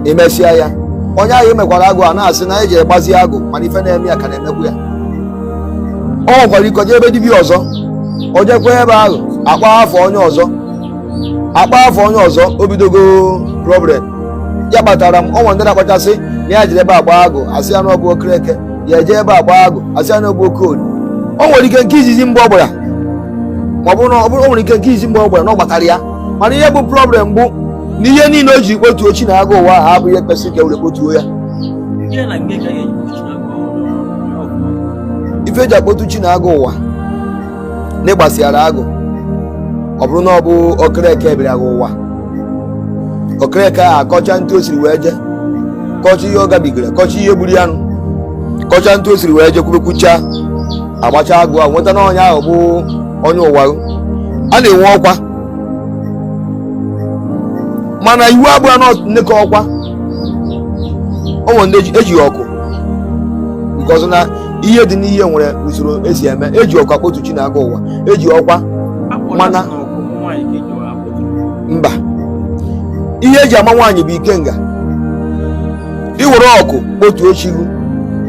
imesịa ya onye ahụ emekwara agụ a na-asị na eji egbazi agụ mana ife na-eme ya ka na-emekwu ya o nwekwara ike jee ebe dibịa ọzọ o jekwa ebe ahụ akpọ afa onye ọzọ o bidogo problem ya kpatara m o nwe ndị na-akpachasị na ya jere ebe a gbaa agụ asị ya na ọ bụ okereke ya eje ebe a gbaa agụ asị ya na ọ bụ okorie o nwere ike nke izizi mgbe ọ gbara ma ọ bụrụ na ọ bụrụ- o nwere ike nke izizi mgbe ọ gbara na ọ gbatara ya mana ihe bụ problem bụ na ihe niile o ji kpotuo chi na agụ ụwa ahụ abụghị ihe kwesịrị ka e were kpotuo ya ife eji akpotu chi na agụ ụwa na ịgbasịara agụ ọ bụrụ na ọ bụ okereke bịara gị ụwa okereke a akọcha ntụ o siri wee je kọcha ihe ọ gabigara kọcha ihe gburu ya nụ kọcha ntụ o siri wee je kwubekwucha agbacha agụ a nweta na onye ahụ bụ onye ụwa a na-enwe ọkwa mana iwu abụọ na nnekọ ọkwa o nwere ndị eji- ejighị ọkụ nke ọzọ na ihe dị n'ihe nwere usoro esi eme eji ọkwa kpotu chi na agụ ụwa eji ọkwa mana mba ihe eji ama nwaanyị bụ ikenga i were ọkụ kpotuo chi gụ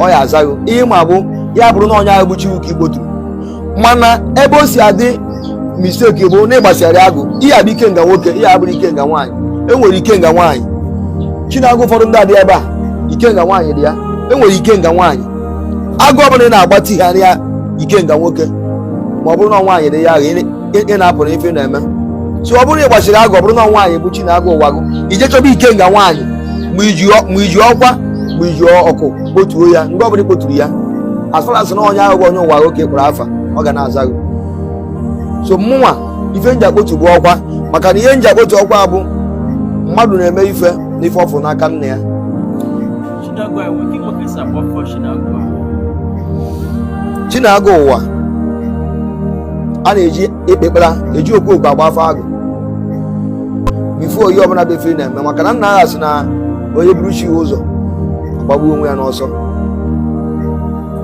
ọ ya aza gị ihe ma bụ ya bụrụ na onye ahụ bụ chi gụ ka ị kpoturu mana ebe o si adị mistake bụ na ịgbasịara agụ ihe abụ ikenga nwoke ihe abụrụ ikenga nwaanyị enwere ikenga nwaanyị chi na agụ ụfọdụ ndị adị ebe a ikenga nwaanyị dị ya enwere ikenga nwaanyị agụ ọbụla ị na-agbatigharị ya ikenga nwoke ma ọ bụrụ na nwaanyị dị ya ahụ ị na-afụrụ ife na-eme so ọ bụrụ na ị gbasịrị agụ ọ bụrụ na nwaanyị bụ chi na agụ ụwa gụ i je chọba ikenga nwaanyị ma iji ọkwa ma iji ọkụ kpotuo ya mgbe ọbụla ị kpoturu ya as far as na onye ahụ bụ onye ụwa gụ ka ị kpọrọ afa ọ ga na-aza gị so mụnwa ife m ji akpotu bụ ọkwa maka na ihe m ji akpotu ọkwa bụ mmadụ na-eme ife n'ife ọ fụrụ n'aka nne ya chi na agụ ụwa a na-eji ekpekpara eji okwu okwu agba afa agụ before ihe ọbụla bụ ife na-eme maka na nnaa ha sị na onye buru chi ya ụzọ agbagbuo onwe ya n'ọsọ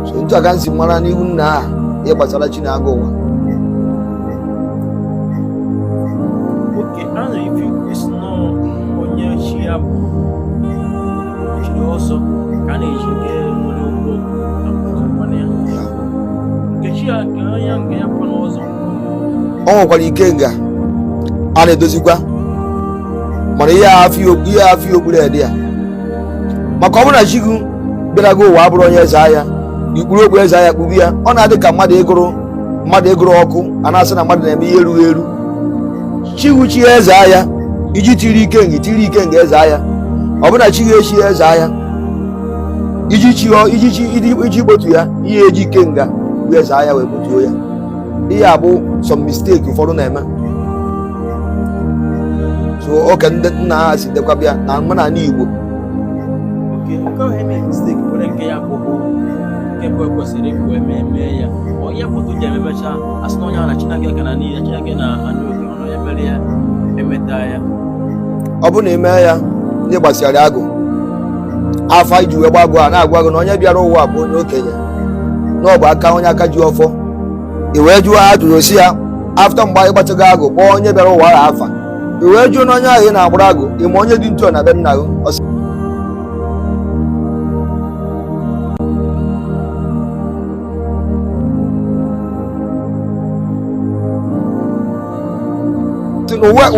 so ntụ a ka m si mara n'ihu nnaa ha ihe gbasara chi na agụ ụwa jiri ọsọ ka a na-eji nke nwere ụgwọ na ya nkechi ya nke onye nke ya kwa n'ọzọ o nwekwara ikenga a na-edozikwa mana ihe afọ okpuru ede ya maka ọ bụrụ na chi gị bịara gị ụwa abụrọ onye eze agha i kpuru okpu eze agha kpube ya ọ na-adị ka mmadụ ịgụrụ ọkụ a na-asị na mmadụ na-eme ihe erughị eru chi gị chie eze agha iji tiri iken- tiri ikenga eze agha ọ bụ na chi gị echi eze agha iji gbotu ya ihe e ji ikenga bụ eze agha wee gbotuo ya ihe a bụ some mistake ụfọdụ na-eme so oke ndị nna ha si dekwaba ya n'omenala igbo Nke nke ahụ eme mistake were nke ya kwụkwụ nke bụ ekwesịrị ikwu eme eme ya onye kwụtụ ji ememecha asị na onye ahụ na chineke ka na n'ihe chineke na anụ oke ọnụ onye mere ya emeta ya ọ bụrụ na ị mee ya ihe gbasịara agụ afa iji wee gbaa agụ a na-agwa gị na onye bịara ụwa bụ onye okenye na ọ bụ aka onye aka ji ọfọ i wee jụọ ajụjụ sị ya after mgbe anyị gbachago agụ kpọọ onye bịara ụwa ahụ afa i wee jụọ na onye ahụ ị na-agbara agụ ị ma onye dị ntu na be nna gị Ọ sị,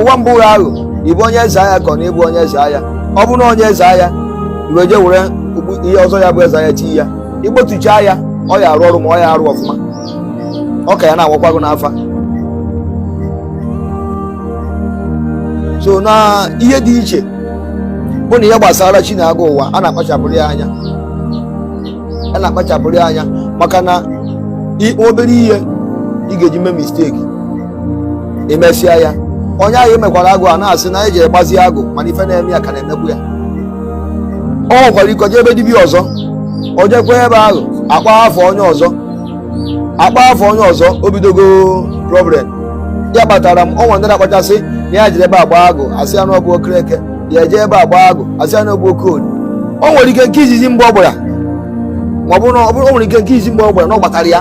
ụwa mbụ ya ahụ ị bụ onye eze agha ka ọ na ị bụ onye eze agha ọ bụrụ na onye eze agha i wee je were ihe ọzọ ya bụ eze agha tie ya i gbotuchaa ya ọ ya arụ ọrụ ma ọ ya arụ ọfụma ọ ka ya na-awakwago n'afa so na ihe dị iche bụ na ihe gbasara chi na agụ ụwa a na-akpachapụrụ ya anya a na-akpachapụrụ ya anya maka na i- obere ihe ị ga-eji mee mistake i mesịa ya onye ahụ emekwara agụ a na-asị na ya jere gbazie agụ mana ife na-eme ya ka na-emekwu ya o nwekwara ike jee ebe dibịa ọzọ o jekwa ebe ahụ akpọ afa onye ọzọ akpọ afa onye ọzọ o bidogo problem ya kpatara m o nwere ndị na-akpachasị na ya jere ebe a gbaa agụ asị ya na ọ bụ okereke ya eje ebe a gbaa agụ asị ya na ọ bụ okoli o nwere ike nke izizi mgbe ọ gbara ma ọ bụrụ na ọ bụrụ- o nwere ike nke izizi mgbe ọ gbara na ọ gbatara ya